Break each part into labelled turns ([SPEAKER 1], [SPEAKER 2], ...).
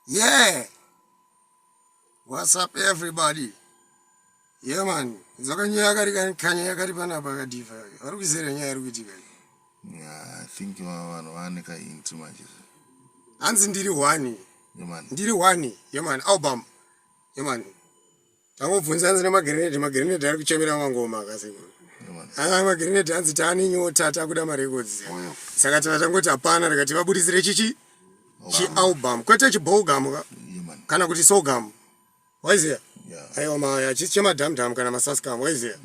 [SPEAKER 1] yeah what's up everybody yeah man dzakanyaya kari kani kanyaya kari panapa kadifa vari kuizera nyaya iri kuitika
[SPEAKER 2] i think vanhu vane kainti manje hanzi
[SPEAKER 1] ndiri one ndiri
[SPEAKER 2] one yeman
[SPEAKER 1] album yeman Tangobvunza hanzi nemagrenade magrenade ari kuchemera mangoma akasekuru aa magrenade hanzi taane nyota takuda marecords saka tana tangoti hapana rikati vabudisire chichi chialbum kwete chibolgam ka kana kuti sogam waiziva aiwa maya chisi chemadamdam kana masascam waiziva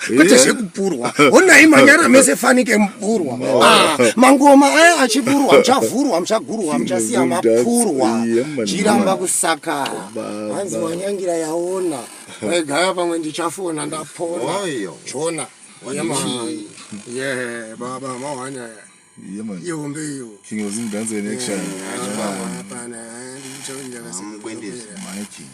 [SPEAKER 1] kwete zvekupurwa honai manyara mese fanike mupurwa ah, mangoma aya achipurwa muchavhurwa muchagurwa muchasiya mapurwa chiramba kusakara hanzi wanyangira yaona egaya pamwe ndichafona ndapona chona ye baba mawanya Yeah, man. Yo, mbe yo. King was in dance in
[SPEAKER 2] action. Yeah, yeah, yeah. Mkwendizi. My king.